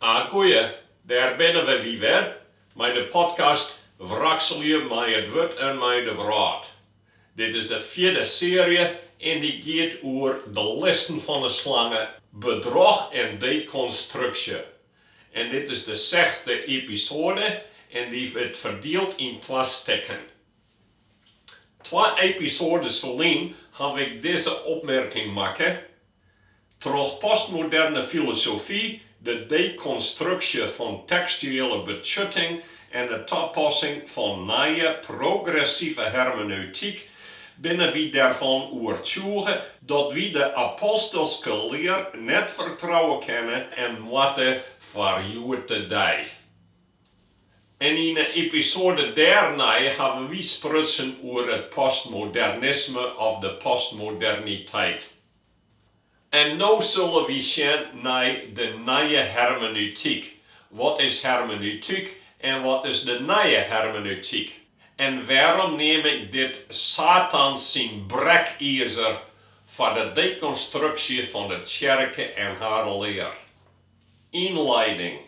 Agoeie, dêr binne we wer mei de podcast Wrakselje mei it wurd en mei de wrâld. Dit is de fjirde searje en dy giet oer de listen fan de slange, bedroch en dekonstruksje. En dit is de sechsde episoade en dy wurdt ferdield yn twa stikken. Twa episoades ferlyn ha ik dizze opmerking makke, Troch postmoderne filosofy, de dekonstruksje fan tekstuele betsjutting en de tapassing fan nije progressive hermeneutyk, binne wy derfan oertsjûge dat wy de apostelske lear net fertrouwe kinne en moatte foar hjoed-de-dei. En yn 'e episoade dêrnei hawwe wy sprutsen oer it postmodernisme of de postmoderniteit. En no sille wy sjen nei de nije hermeneutyk. Wat is hermeneutyk en wat is de nije hermeneutyk? En wêrom neam ik dit Satans syn brekizer foar de dekonstruksje fan de tsjerke en har lear? Ynleiding.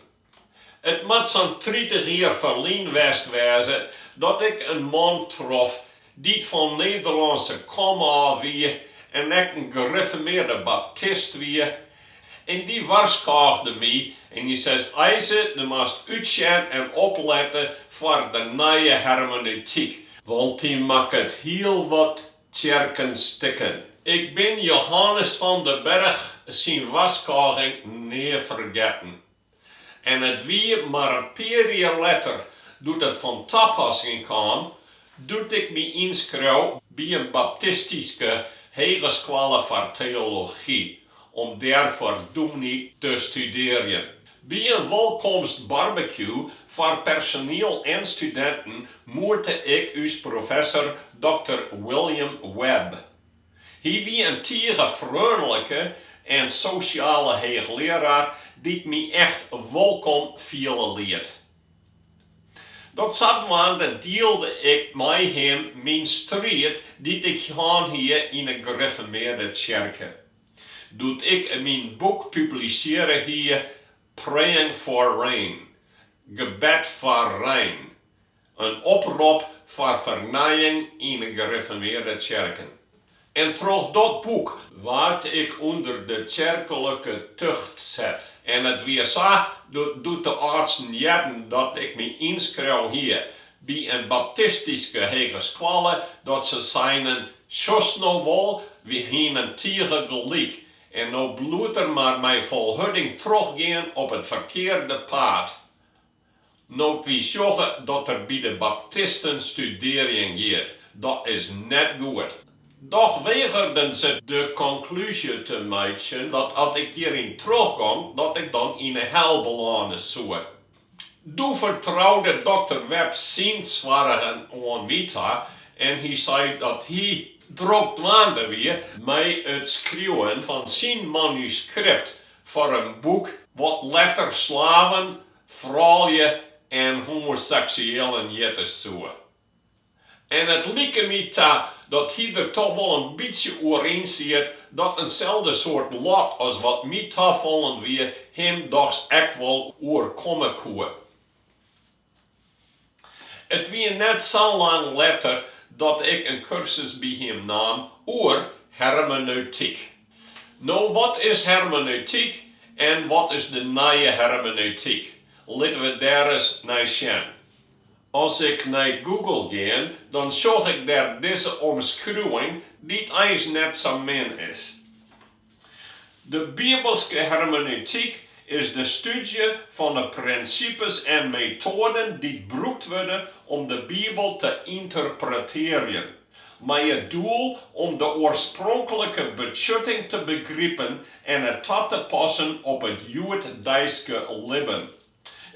It moat sa'n tritich jier ferlyn west wêze dat ik in man trof dy't fan Nederlânske komôf wie en ek in griffermearde baptist wie. En dy warskôgde my en dy seit, Eise, do moatst útsjen en oplette foar de nije hermeneutyk, want dy makket hiel wat tsjerken stikken. Ik bin Johannes van den Berg syn warskôging nea fergetten. En it wie mar in pear jier letter doe't it fan tapassing kaam doe't ik my ynskreaun by in baptistyske hegeskoalle foar teology om dêr foar dûmny te studearjen. By in wolkomstbarbecue foar personiel en studinten moete ik ús professor dokter William Webb, Hy wie in tige freonlike en sosjale heechlearaar dy't my echt wolkom fiele liet. Dat sadwaande dielde ik mei him myn striid dy't ik hân hie yn 'e griffermearde tsjerke. Doe't ik myn boek publisearre hie, Praying for Rain, Gebed foar Rein, In oprop foar fernijing yn 'e gerifformearde tsjerken. En troch dat boek waard ik ûnder de tsjerklike tucht set. En it wie sa doe't de âldsten hearden dat ik my ynskreaun hie by in baptistyske hegeskoalle, dat se seinen, Sjochst no wol, wy hienen tige gelyk. En no bliuwt der mar mei volharding trochgean op it ferkearde paad. No't wy sjogge dat er by de baptisten studearjen giet, dat is net goed. Dochs wegeren se de konklúzje te meitsjen dat as ik hjiryn trochgong, dat ik dan yn 'e hel belâne soe. Doe fertroude dokter Webb syn soargen oan my ta en hy sei dat hy drok dwaande wie mei it skriuwen fan syn manuskript foar in boek wat letter Slaven, froulju en homoseksueallen hjitte soe. En it like my ta dat hy der toch wol in bytsje oer yn siet dat inselde soart lot as wat my tafallen wie him dochs ek wol oerkomme koe. It wie net sa lang letter dat ik in kursus by him naam oer hermeneutyk. No, wat is hermeneutyk en wat is de nije hermeneutyk? Litte we dêr ris nei sjen. As ik nei Google gean, dan seach ik dêr dizze omskriuwing, dy't eins net sa min is. De bibelske hermeneutyk is de stúdzje fan 'e prinsipes en metoaden dy't brûkt wurde om de Bibel te ynterpretearjen, mei it doel om de oarspronklike betsjutting te begripen en it ta te passen op it hjoeddeiske libben.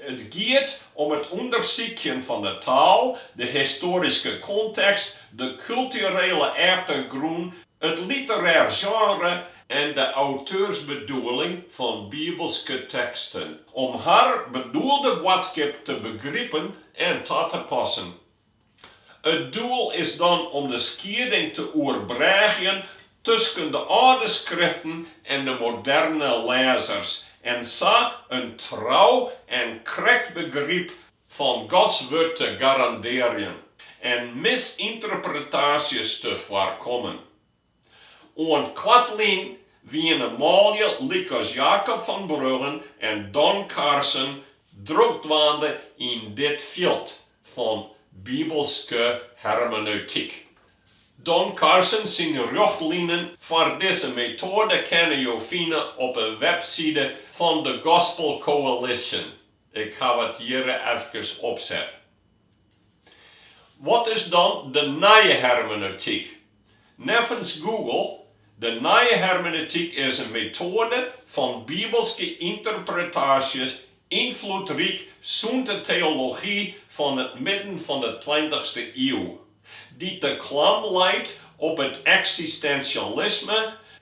It giet om it ûndersykjen fan de taal, de histoaryske kontekst, de kulturele eftergrûn, it literêre sjenre en de auteursbedoeling fan bibelske teksten, om har bedoelde boadskip te begripen en ta te passen. It doel is dan om de skieding te oerbrêgjen tusken de âlde skriften en de moderne lêzers en sa in trou en krekt begryp fan Gods Wurd te garandearjen en misynterpretaasjes te foarkommen. Oant koartlyn wiene manlju lykas Jacob van Bruggen en Don Carson drok dwaande yn dit fjild fan bibelske hermeneutyk. Don Carson syn rjochtlinen foar dizze metoade kinne jo fine op 'e webside fan de Gospel Coalition, ik haw it hjir efkes opset. Wat is dan de nije hermeneutyk? Neffens Google, De nije hermeneutyk is in metoade fan bibelske ynterpretaasjes, ynfloedryk sûnt de teology fan it midden fan de tweintichste iuw, dy't de klam leit op it eksistensialisme,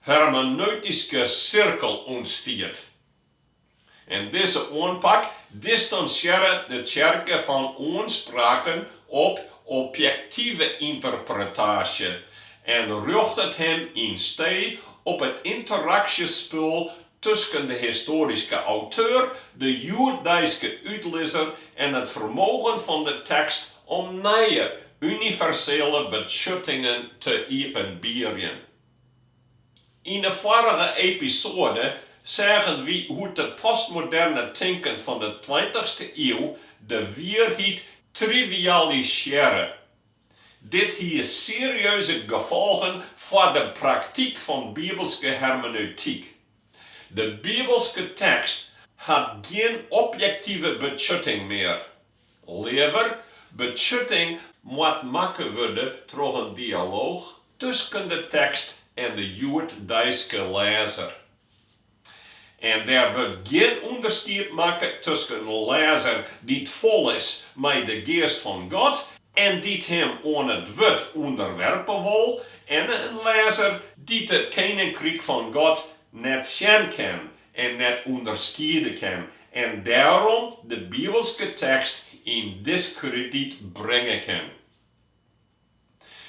hermeneutyske sirkel ûntstiet. En dizze oanpak distansjearre de tsjerke fan oanspraken op objektive ynterpretaasje en rjochtet him yn stee op it ynteraktyf spul tusken de histoaryske auteur, de hjoeddeiske útlizzer en it fermogen fan de tekst om nije universele betsjuttingen te iepenbierjen. Yn de foarige episoade seagen wy hoe't it postmoderne tinken fan de tweintichste iuw de wierheid trivialisearre. Dit hie serieuze gefolgen foar de praktyk fan bibelske hermeneutyk. De bibelske tekst hat gjin objektive betsjutting mear. Leaver, betsjutting moat makke wurde troch in dialooch tusken de tekst en de hjoeddeiske lêzer. En der wurdt gjin ûnderskied makke tusken in lêzer dy't fol is mei de geast fan God en dy't him oan it wurd ûnderwerpe wol en in lêzer dy't it keninkryk fan God net sjen kin en net ûnderskiede kin en dêrom de bibelske tekst yn diskrediet bringe kin.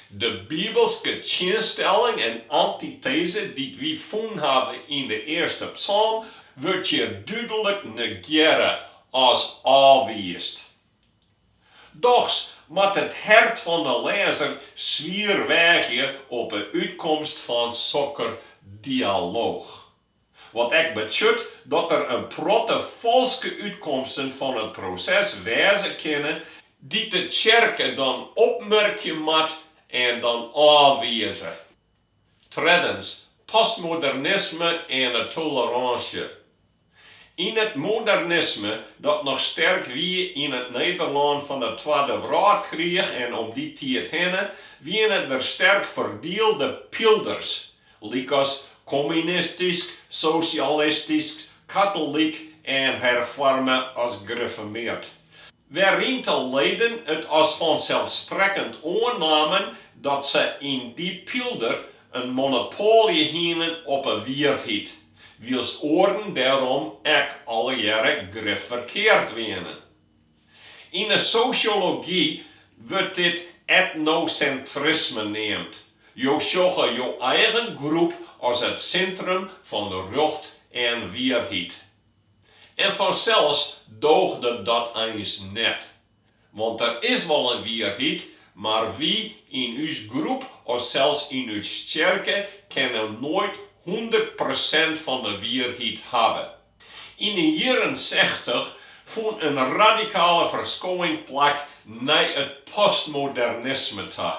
De bibelske tsjinstelling en antiteze dy't wy fûn hawwe yn de earste psalm wurdt hjir dúdlik negearre as ôfwiisd. Dochs moat it hert fan de lêzer swier weagje op 'e útkomst fan sa'n dialooch. Wat ek betsjut dat der in protte falske útkomsten fan it proses wêze kinne dy't de tsjerke dan opmerkje moat en dan ôfwize. Treddens, postmodernisme en de tolerânsje. Yn it modernisme, dat noch sterk wie yn it Nederlân fan 'e Twadde Wrâldkriich en om dy tiid hinne, wiene der sterk ferdielde pylders, lykas kommunistysk, sosjalistysk, katolyk en herfoarme as grifformeard. Wêryn't de leden it as fanselsprekkend oannamen dat se yn dy pylder in monopoalje hienen op 'e wierheid, wylst oaren dêrom ek allegearre grif ferkeard wienen. Yn 'e sosjology wurdt dit etnosintrisme neamd, jo sjogge jo eigen groep as it sintrum fan rjocht en wierheid. En fansels dooch dat eins net, want der is wol in wierheid, mar wy yn ús groep of sels yn ús tsjerke kinne noait hûndert persint fan 'e wierheid hawwe. Yn de jierren sechtich fûn in radikale ferskowing plak nei it postmodernisme ta,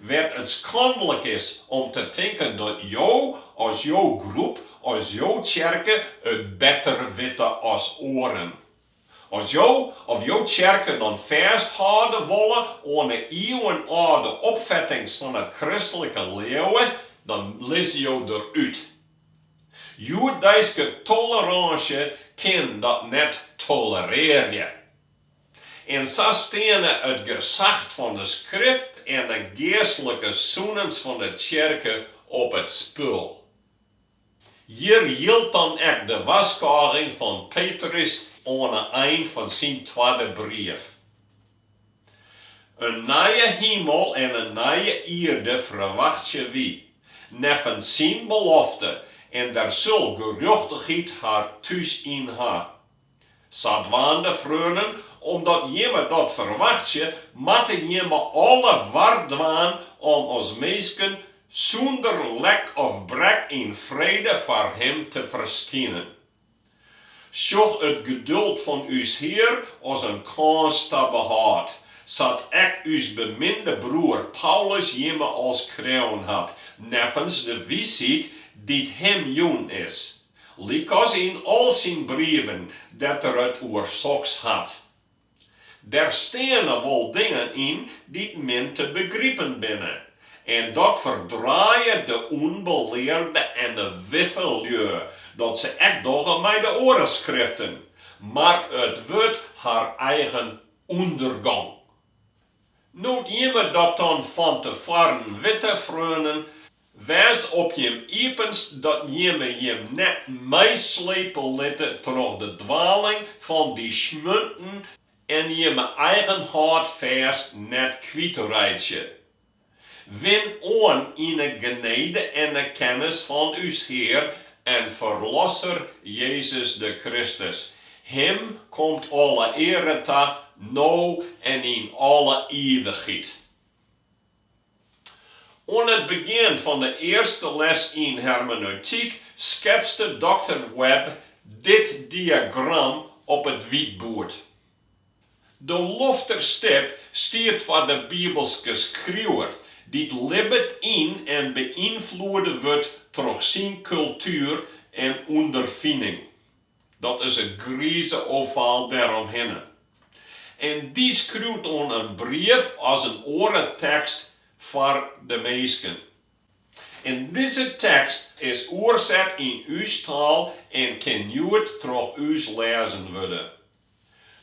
wêr't it skandalich is om te tinken dat jo as jo groep, as jo tsjerke it better witte as oaren. As jo of jo tsjerke dan fêsthâlde wolle oan 'e ieuwenâlde opfettings fan it kristlike leauwe, dan lizze jo der út. Hjoeddeiske tolerânsje kin dat net tolerearje. En sa steane it gesach fan 'e Skrift en 'e geastlike sûnens fan 'e tsjerke op it spul. Hjir jildt dan ek de warskôging fan Petrus oan 'e ein fan syn twadde brief. In nije himel en in nije ierde ferwachtsje wy, neffens syn belofte, en der sil gerjochtichheid har thús yn ha. Sadwaande freonen, omdat jimme dat ferwachtsje, moatte jimme alle war dwaan om as minsken sûnder lek of brek yn frede foar Him te ferskinen. Sjoch it geduld fan ús Hear as in kâns ta behâld, sa't ek ús beminde broer Paulus jimme al skreaun hat neffens de wiisheid dy't Him jûn is. Lykas yn al syn brieven dêr't er it oer soks hat. Der steane wol dingen yn dy't min te begripen binne, en dat ferdraaie de ûnbelearde en de wiffe lju dat se ek dogge mei de oare skriften, mar it wurdt har eigen ûndergong. No't jimme dat dan fan te foaren witte, freonen, wês op jim iepenst dat jimme jim net meislepe litte troch de dwaling fan dy smjunten en jimme eigen hâldfêst net kwytreitsje. Win oan yn 'e genede en 'e kennis fan ús Hear en Ferlosser Jezus de Kristus. Him komt alle eare ta, no en yn alle ivichheid. Oan it begjin fan de earste les yn hermeneutyk sketste doktor Webb dit diagram op it wytboerd. De lofterstip stiet foar de bibelske skriuwer, dy't libbet yn en beynfloede wurdt troch syn kultuer en ûnderfining. Dat is it grize ovaal dêromhinne. En dy skriuwt oan in brief as in oare tekst foar de minsken. En dizze tekst is oerset yn ús taal en kin hjoed troch ús lêzen wurde.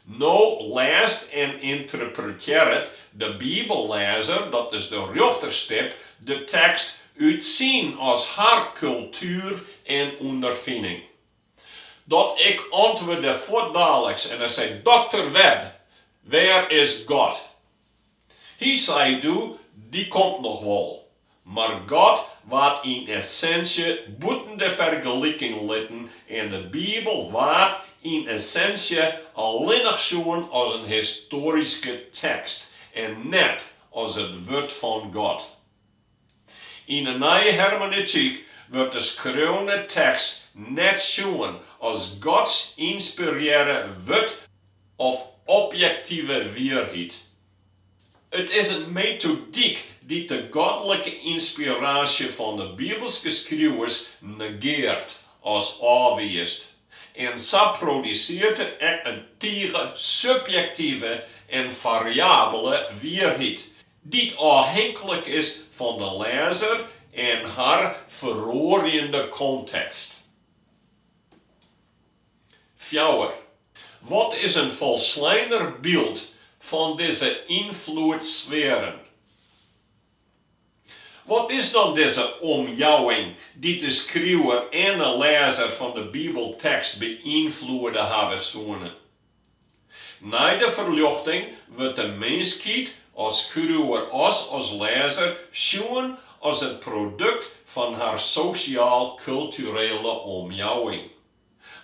No lêst en ynterpretearret de bibellêzer, dat is de rjochterstip, de tekst út syn as har kultuer en ûnderfining. Dat ik antwurde fuortdaliks en ik sei, Dokter Webb, wêr is God? Hy sei doe, dy komt noch wol. Mar God waard yn essinsje bûten de fergeliking litten en de Bibel waard yn essinsje allinnich sjoen as in histoaryske tekst en net as it wurd fan God. Yn 'e Nije Hermeneutyk wurdt de skreaune tekst net sjoen as Gods ynspirearre wurd of objektive wierheid. It is in metodyk dy't de godlike ynspiraasje fan de bibelske skriuwers negearret as ôfwiist, en sa produsearret it ek in tige subjektive en fariabele wierheid Dy't ôfhinklik is fan de lêzer en har feroarjende kontekst. Fjouwer. Wat is in folsleiner byld fan dizze ynfloedssfearen? Wat is dan dizze omjouwing dy't de skriuwer en de lêzer fan de bibeltekst beynfloede hawwe soene? Nei de ferljochting wurdt de minskheid as skriuwer as as lêzer sjoen as it produkt fan har sosjaal-kulturele omjouwing,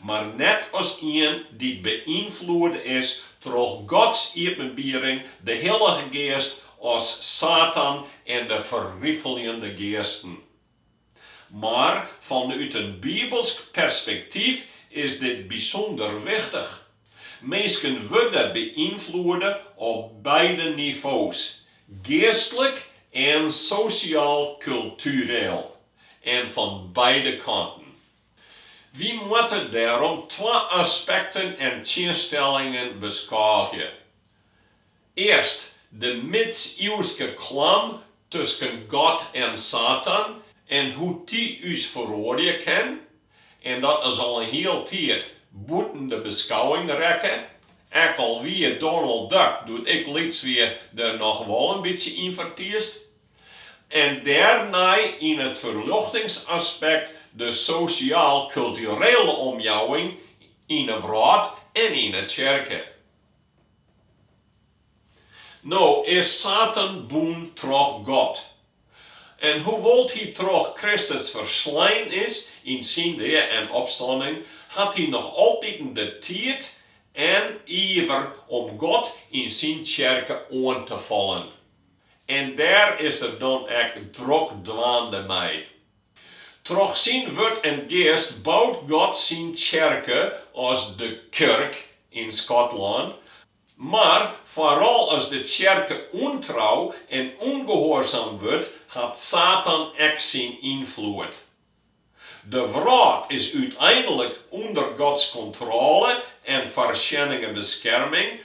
mar net as ien dy't beynfloede is troch Gods iepenbiering, de Hillige Geast as Satan en de ferrifeljende geasten. Mar fanút in bibelsk perspektyf is dit bysûnder wichtich. Minsken wurde beynfloede op beide nivo's, geastlik en sosjaal-kultureel, en fan beide kanten. Wy moatte dêrom twa aspekten en tsjinstellingen beskôgje. Earst de midsiuwske klam tusken God en Satan en hoe't dy ús feroarje kin, en dat is al in hiel tiid bûten de beskouwing rekke, ek al wie Donald Duck, doe't ik lyts wie, der noch wol in bytsje yn fertiisd. En dêrnei it ferljochtingsaspekt de sosjaal-kulturele omjouwing yn 'e wrâld en yn 'e tsjerke. No is Satan bûn troch God. En hoewol't hy troch Kristus ferslein is yn syn dea en opstanning, hat hy noch altiten de tiid en iver om God en syn tsjerke oan te fallen. En dêr is er dan ek drokdwaande mei. Troch syn wurd en Geast bout God syn tsjerke, of de Kirk yn Skotlân, mar foaral as de tsjerke ûntrou en ûngehoarzaam wurdt, hat Satan ek syn ynfloed. De wrâld is úteinlik ûnder Gods kontrôle en foarsjennige beskerming,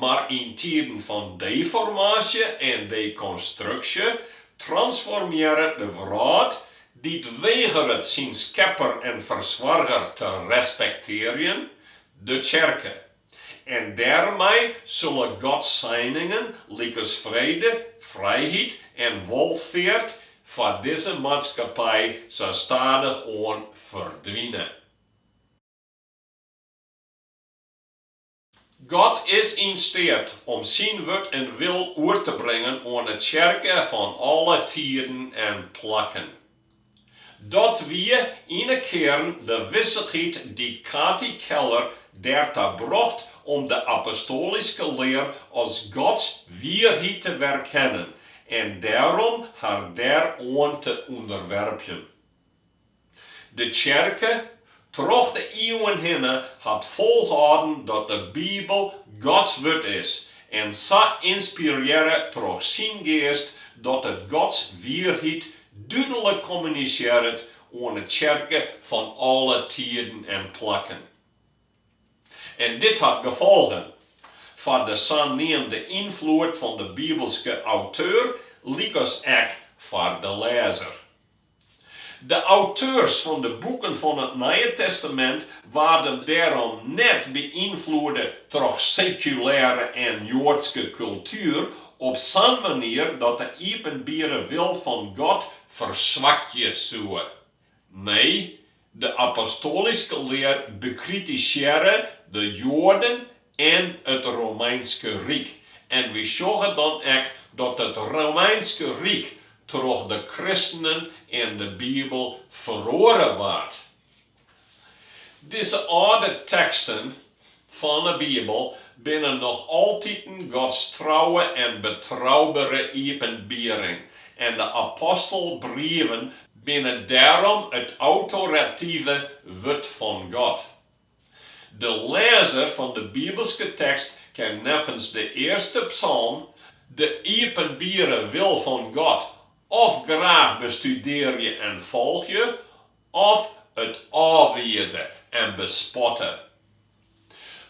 Mar yn tiden fan deformaasje en dekonstruksje transformearret de wrâld, dy't wegeret syn Skepper en Fersoarger te respektearjen, de Tsjerke. En dêrmei sille Gods seiningen lykas frede, frijheid en wolfeart foar dizze maatskippij sa stadichoan ferdwine. God is yn steat om syn wurd en wil oer te bringen oan 'e tsjerke fan alle tiden en plakken. Dat wie yn 'e kearn de wissichheid dy't Kathy Keller dêrta brocht om de apostoalyske lear as Gods wierheid te werkennen en dêrom har dêroan te ûnderwerpjen. De tsjerke, troch de iuwen hinne, hat folhâlden dat de Bibel Gods Wurd is en sa ynspirearre troch syn geast dat it Gods wierheid dúdlik kommunisearret oan 'e tsjerke fan alle tiden en plakken. En dit hat gefolgen foar de saneamde ynfloed fan de bibelske auteur lykas ek foar de lêzer. De auteurs fan de boeken fan it Nije Testamint waarden dêrom net beynfloede troch sekulêre en joadske kultuer op sa'n manier dat de iepenbiere wil fan God ferswakje soe. Nee, De apostoalyske lear bekritisearre de Joaden en it Romeinske Ryk, en wy sjogge dan ek dat it Romeinske Ryk troch de kristenen en de Bibel feroare waard. Dizze âlde teksten fan 'e Bibel binne noch altiten Gods trouwe en betroubere iepenbiering en de apostelbrieven binne dêrom it autorative wurd fan God. De lêzer fan de bibelske tekst kin neffens de earste psalm de iepenbierre wil fan God of graach bestudearje en folgje, Of it ôfwize en bespotte.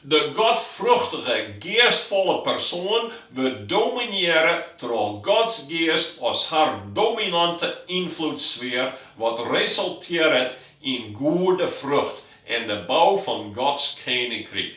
De godfrûchtige, geastfolle persoan wurdt dominearre troch Gods geast as har dominante ynfloedssfear, wat resultearret yn goede frucht en de bou fan Gods keninkryk.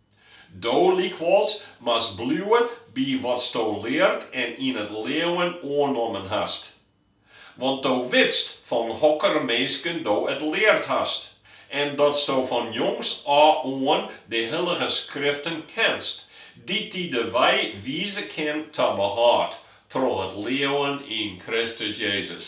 Do lykwols moatst bliuwe by watsto leard en yn it leauwen oannommen hast. Want do witst fan hokker minsken do it leard hast, en datsto fan jongs ôf oan de hillige skriften kinst, dy't dy de wei wize kinne ta behâld troch it leauwen yn Kristus Jezus.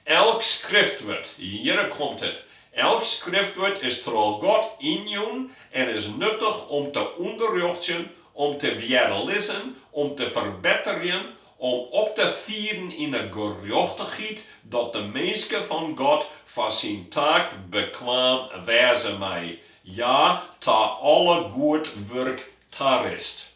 Elk skriftwurd, hjir komt it, elk skriftwurd is troch God ynjûn en is nuttich om te ûnderrjochtsjen, om te wjerlizzen, om te ferbetterjen, om op te fieren yn 'e gerjochtichheid, dat de minske fan God foar syn taak bekwaam wêze mei, ja, ta alle goed wurk tarist.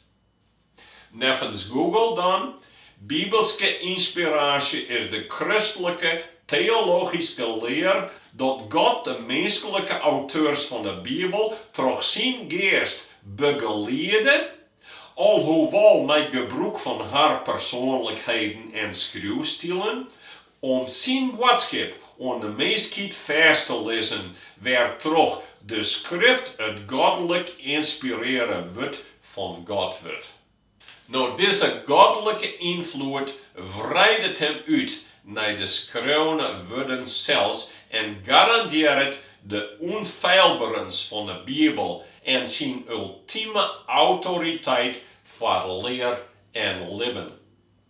Neffens Google dan, Bibelske ynspiraasje is de kristlike teologyske lear dat God de minsklike auteurs fan 'e Bibel troch syn geast begeliede, alhoewol mei gebrûk fan har persoanlikheden en skriuwstilen, Om syn boadskip oan de minskheid fêst te lizzen wêrtroch de Skrift it godlik ynspirearre wurd fan God wurdt. No dizze godlike ynfloed wreidet him út nei de skreaune wurden sels en garandearret de ûnfeilberens fan de Bibel en syn ultime autoriteit foar lear en libben.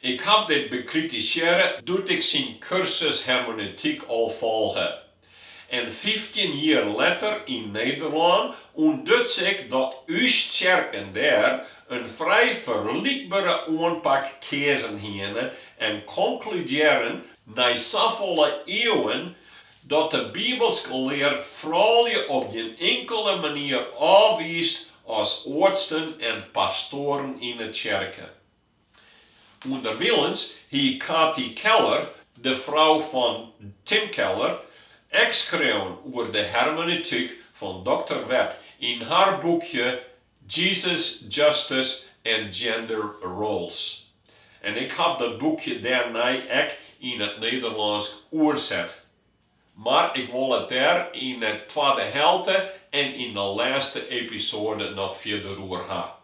Ik haw dit bekritisearre doe't ik syn kursus hermeneutyk al folge. En fyftjin jier letter yn Nederlân ûntduts ik dat ús tsjerken dêr in frij ferlykbere oanpak keazen hiene en konkludearren nei safolle iuwen Dat de bibelske lear froulju op gjin inkele manier ôfwiist as oardsten en pastoaren yn 'e tsjerke. Underwilens hie Kathy Keller, de frou fan Tim Keller, ek skreaun oer de hermenetyk fan doktor Webb yn har boekje Jesus, Justice and Gender Roles. En ik haw dat boekje dêrnei ek yn it Nederlânsk oerset. Mar ik wol it dêr yn 'e twadde helte en yn 'e lêste episoade noch fierder oer ha.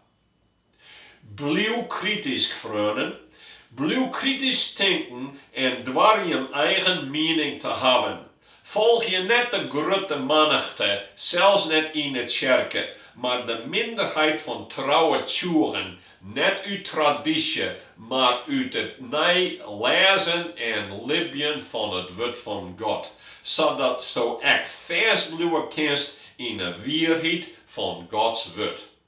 Bliuw kritysk, freonen. Bliuw kritysk tinken en doar jim eigen miening te hawwen. Folgje net de grutte mannichte, sels net yn 'e tsjerke, mar de minderheid fan trouwe tsjûgen, net út tradysje, mar út it nij lêzen en libjen fan it wurd fan God, sadatsto ek fêstbliuwe kinst yn 'e wierheid fan Gods wurd.